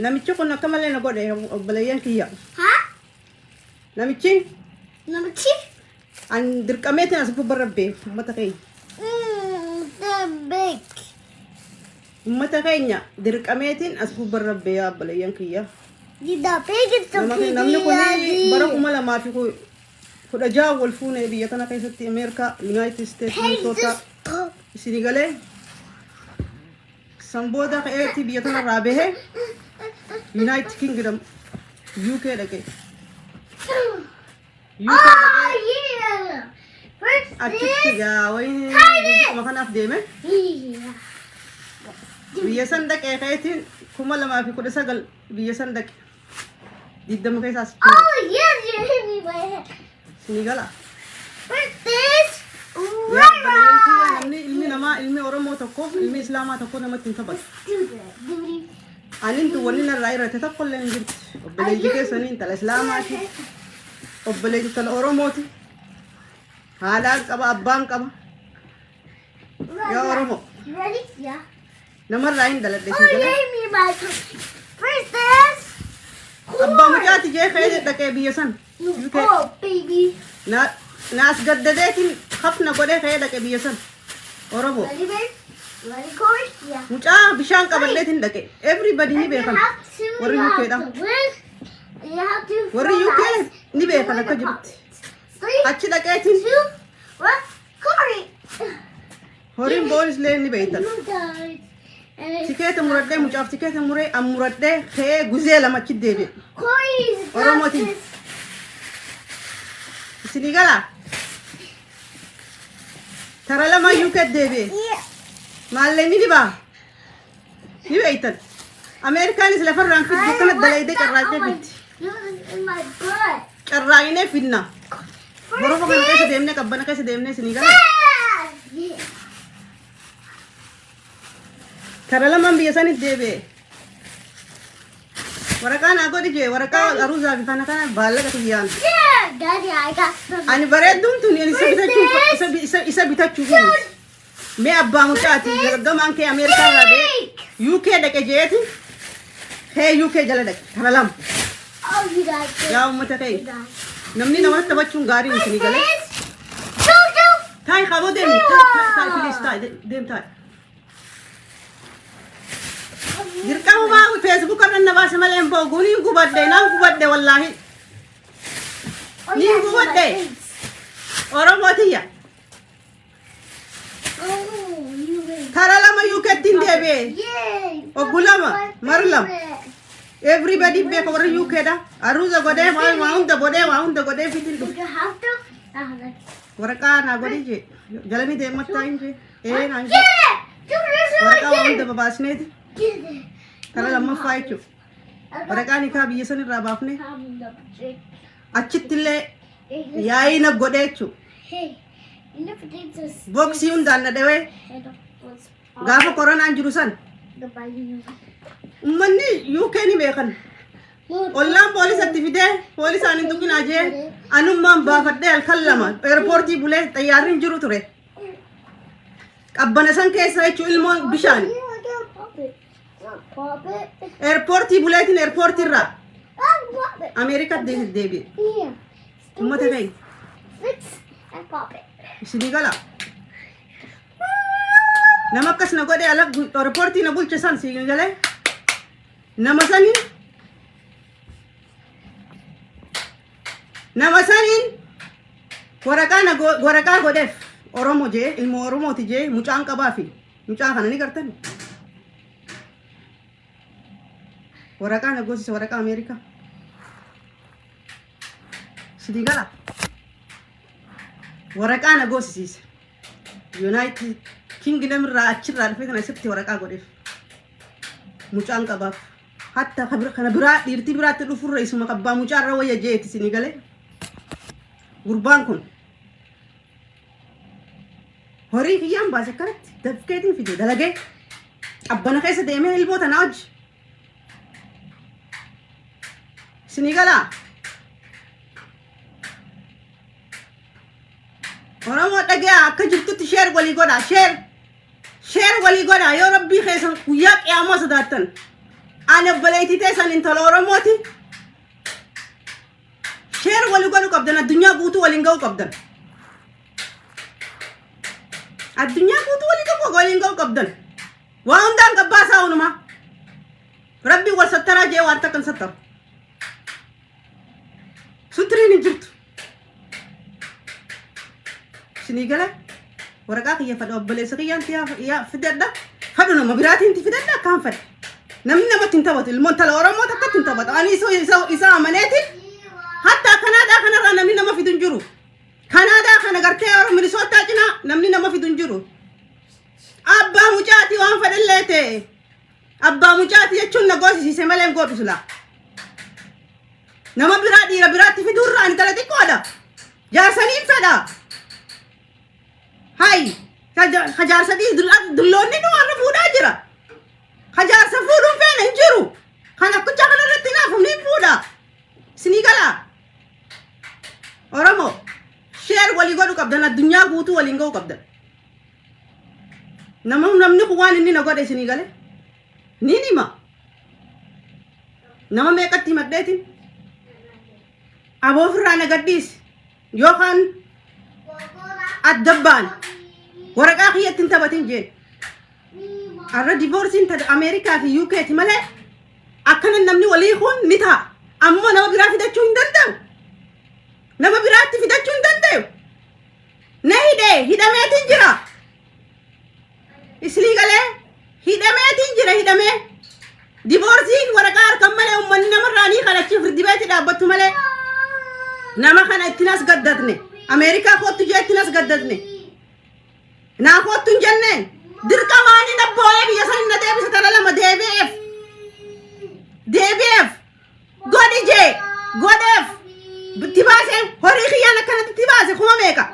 Namichi kun akka malee na godhe obboleeyyan kiyya. Haa? Namichi Namichi? an dirqameetiin as gubba rabbe uummata keenya. Mm, the big. Uummata keenya dirqameetiin as gubba rabbe yaa obboleeyyan kiyya. Did the pig is the Nama- pig? Namni kun bara kuma lamaa fi ku- kudha ja'a wal fuune biyya tana keessatti Ameerikaa, Yunaayitid Isteet, Minnesota isinii galee San booda ka'eetii biyya tanarraa bahe Yunaayitid Kingidam UK dhaqe. UK dhaqee achitti gaa wayii guddisuma kanaaf deeme. Biyya san dhaqee ka'eetiin kuma lamaa fi kudha sagal biyya san dhaqe. Digdama keessaa sitti hin galu. Oh, yes, you hit me by head. Sinii gala. But this, Yaa obboleeyyan kiyya right. namni ilmi namaa ilmi Oromoo tokko ilmi Islaamaa tokko namatti hin taphatu. Do that, duty. Anin tu wanni narraa irratti tokko illee hin jirti. Obboleeyyi keessanii intala Islaamaati. Obboleeyyi intala Oromooti. Haadhaan qaba abbaan qaba. Yaa Oromoo. Ready? Yeah. Namarraa hin dhaladhe Oh, siin jedha. yeah, me, my princess. Abbaa mucaati jee ka'ee dhaqee biyya san. You UK. go, baby. Na na as gaddadeetiin hafna godhee ka'ee dhaqe biyya san. Oromoo. Ready, babe? Ready, Corey? Yeah. Mucaa bishaan qabadheetiin dhaqe. Everybody ni And you beekan. have to, Warri you UK have dha. to win. And you have to Warri UK realize ni beekan akka jirutti. Three, Achi dhaqeetiin two, one. Corey. Horiin boonis illee ni beektan. You guys. And it's Tikeeta muradhee mucaaf tikeeta muree an muradhee ka'ee guzee lama achi deebi'e. Corey is not Oromotin. this. Isinii gala. Tara lama UK deebi'e. Yeah. Maallee ni dibaa. Ni beektan. Ameerikaanis lafarraan fiddu akkana dalaydee carraaqee fiddi. Carraaqinee fidna. Borofa kana keessa deemnee qabbana keessa deemnee isinii gala. Kara lamaan biyya sanitti deebi'e. Waraqaa naa godhi jee waraqaa aruuzaa fi kana kana baallaqa tiyyaan. Daddy, I got some. Ani bareedduun tuni ani isa bitachuuf isa- isa- isa bitachuuf. Mee abbaa mucaati dargamaan kee Ameerikaa irraa ba'ee UK dhaqe jeeti kee UK jala dhaqe kana lama. Oh, you got this. Yaa uummata kee namni namatti taphachuun gaarii miti ni galee. Taa'e qaboo deemi taa'e taa'e please taa'e deem taa'e. Dirqama maa Facebook irra na baase malee hin boogu ni gubadde naan gubadde wallaahi. Oh, Ni yeah, you got gubadde. this. Oromoo tiyya. Karaa lama yuukeetti hin deebi'e. Obbo lama, mara lama. Everybody beeka warra yuukeedha. Aruuza godhee waa waa hunda godhee waa hunda godhee fitiin dhufe. Waraqaa naa godhee jee. Jalanii deemattaa hin jee. Ee naan jee. Waraqaa waa hunda babaasneeti. Karaa lammaffaa jechuudha. Waraqaa nikaa biyya san irraa baafnee achittillee yaa'ina godhee jechuudha. Look at this. Boksii hundaan na dhawee Head of both. gaafa koronaan jiru san The body. ummanni UK ni beekan. Ollaan poolisatti fidee poolisaan hin tuqinaa jee anummaan baafadhee halkan lama eerpoortii bulee xayyaarri hin jiru ture. Qabbana san keessa jechuun ilmoon bishaan Pop it. Pop it. eerpoortii buleetiin eerpoortiirraa Pop it. Ameerikaatti deebi'e. Here. Ummata kee. Let's and pop it. Isinii gala. Nama akkas na godhe ala ripoortii na bulche san si galee. Nama saniin. Nama saniin waraqaa na go- waraqaa godheef Oromo jee ilmoo Oromooti jee mucaan qabaa fi mucaa kana ni gartan. Waraqaa na goosise waraqaa Ameerikaa. Sitii gala. Waraqaa na goosisiise. Yuunaayitid Kingidam irraa achirraa dhufee kana asitti waraqaa godheef. Mucaan qabaaf. Hatta ka bira- kana biraa dhiirtii biraatti dhufurra isuma kabbaa mucaa irra wayya jeeti sinii galee. Gurbaan kun horii kiyyaan baase akkanatti dafkeetiin fide dalagee qabbana keessa deemee ilboota naa hojji. Isinii galaa? Oromoo dhagaya akka jirtutti sheer walii godhaa sheer sheer walii godhaa yoo rabbii keessan guyyaa qiyaamaa sodaattan ani obboleettii teessan intala Oromooti sheer walii godhuu qabdan addunyaa guutuu waliin ga'uu qabdan addunyaa guutuu waliin ga'uu waliin ga'uu qabdan. Waa hundaan gabbaa isaa unumaa. Rabbiin wal sattaraa jee waan takkan sattaru. Sutiriin hin jirtu. Isinii gala waraqaa kiyya fadha obboleessa kiyyaan tiyaa yaa fidadha. Fadhu nama biraatiin ti fidadha akkaan fadha. Namni namatti hin taphatu ilmoon tala Oromoo takkatti hin taphatu. Ani isa isa isa amaneeti. Hatta Kanaadaa kanarraa namni nama fidu hin jiru. Kanaadaa kana gartee Oromoo Minisootaa cinaa namni nama fidu hin jiru. Abbaa mucaati waan fedhallee ta'e. Abbaa mucaati jechuun na goosisiise malee hin goodhu silaa. Nama biraa dhiira biraatti fiduurraa intala xiqqoodha. Jaarsaniin fedha. Hayi. Ka jaarsa dhiis dulloonni nu warra fuudhaa jira. Ka jaarsa fuudhuun feena hin jiru. Kan akkucha kana irratti naaf humni hin fuudha. Isinii galaa. Oromoo. Sheer walii godhu qabdan addunyaa guutuu waliin ga'uu qabdan. Nama namni kun waan inni na godhe isinii gale niin hima. Nama meeqatti himadheetiin aboo ofirraa na gadhiisi yookaan adda ba'an waraqaa kiyyatti hin taphatin jeen. Har'a divoorsiin tata Ameerikaa fi UK ti malee akkana namni walii kun ni ta'a. Ammoo nama biraa fidachuu hin danda'u. Nama biraatti fidachuu hin danda'u. na hidhe hidhameetiin jira isinii galee hidhameetiin jira hidhamee diboorsiin waraqaa harkan malee ummanni namarraa ni kadhachiif dibeeti dhaabbattu malee nama kana ittiin as gaddatne ameerikaa koottu jee ittiin as gaddatne naa koottu hin jenne dirqamaanii dhabbooyee biyya san hin na deebisa tana lama deebi'eef deebi'eef Godhi jee godheef itti baasee horii kiyyaan akkanatti itti baase kuma meeqa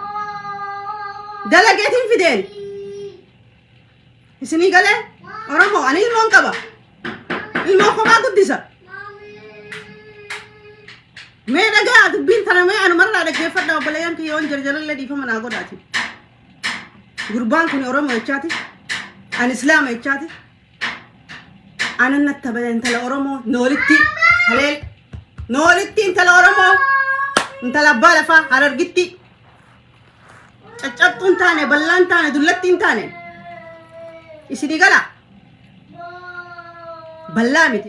dalageetiin fideen isinii galee oromoo ani ilmoon qaba ilmoo kophaa guddisa mee dhagaa dubbiin tana mee anumarraa dhaggeeffadha obboleeyyan kiyya yoon jarjarallee dhiifama naa godhaati gurbaan kun oromoo jechaati an islaama jechaati Aanan natti tabala intala Oromoo noolitti haleel noolitti intala Oromoo intala abbaa lafaa harargitti caccabxuu hin taane bal'aa hin taane dullatti hin taane isinii gala bal'aa miti.